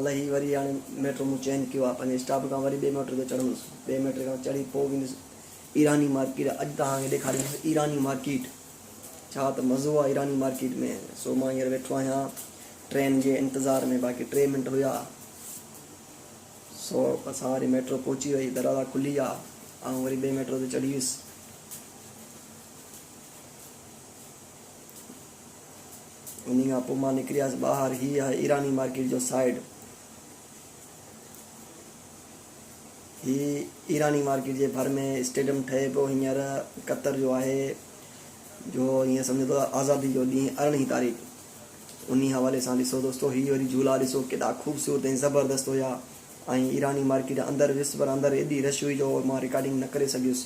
لهي وري هاڻي ميٽرو مون چينج ڪيو آهي پنهنجي اسٽاپ کان وري ٻئي ميٽرو تي چڙهندس ٻئي ميٽرو کان چڙهي پوء ويندس ايراني مارڪيٽ اڄ توهان کي ڏيکاريندس ايراني مارڪيٽ ڇا ته مزو آهي ايراني مارڪيٽ ۾ سو مان هينئر ويٺو آهيان ٽرين جي انتظار ۾ باقي ٽي منٽ هيا سو اسان واري ميٽرو پهچي وئي دروازا کلي ويا آئون وري ٻئي ميٽرو تي چڙهي ويس انهي کان پوء مان نڪريس ٻاهر. هي آهي ايراني مارڪيٽ جو سائيڊ. هي ايراني مارڪيٽ جي ڀر ۾ اسٽيڊيم ٺهي پيو هينئر قطر جو آهي جو هيئن سمجهو ته آزادي جو ڏينهن ارڙهين تاريخ انهي حوالي سان ڏسو دوستو هي وري جهولا ڏسو ڪيڏا خوبصورت ۽ زبردست هيا ۽ ايراني مارڪيٽ اندر ويس پر اندر ايڏي رش هئي جو مان رڪارڊنگ نه ڪري سگهيس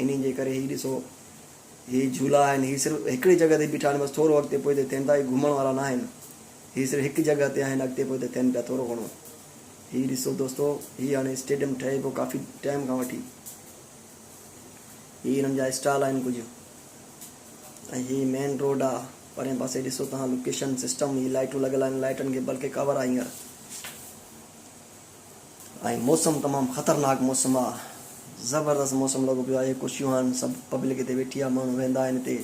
انهي جي ڪري هي ڏسو هي جهولا آهن، هي صرف هڪڙي جڳهه تي بيٺا آهن، بس ٿورو اڳتي پوئتي ٿين ٿا، هي گهمڻ وارا ناهن، هي صرف هڪ جڳهه تي آهن، اڳتي پوئتي ٿين پيا ٿورو گهڻو. هي ڏسو دوستو، هي هاڻي اسٽيڊيم ٺهي پيو ڪافي ٽائيم کان وٺي. هي هنن جا اسٽال آهن ڪجهه ۽ هي مين روڊ آ، پرين پاسي ڏسو توهان لوڪيشن سسٽم، هي لائيٽون لڳل آهن، لائيٽن کي بلڪه ڪاور آ هينئر. ۽ موسم تمام خطرناڪ موسم آ زبردست موسم لڳو پيو آهي ڪرسيون هاڻ سڀ پبلڪ هتي ويٺي آ ماڻهو ويهندا آهن هتي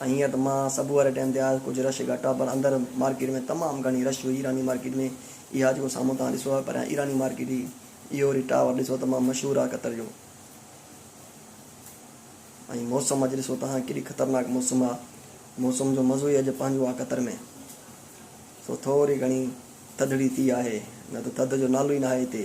۽ هينئر ته مان صبح واري ٽائيم تي آيس ڪجهه رش گهٽ آ پر اندر مارڪيٽ ۾ تمام گهڻي رش هئي ايراني مارڪيٽ ۾ اها جيڪو سامهون توهان ڏسو آ پريان ايراني مارڪيٽ هئي اهو وري ٽاور ڏسو تمام مشهور آ قطر جو ۽ موسم اڄ ڏسو توهان ڪيڏي خطرناڪ موسم آ موسم جو مزو ئي اڄ پنهنجو آ قطر ۾ سو ٿوري گهڻي ٿڌڙي ٿي آهي، نه ته ٿڌ جو نالو ئي ناهي هتي.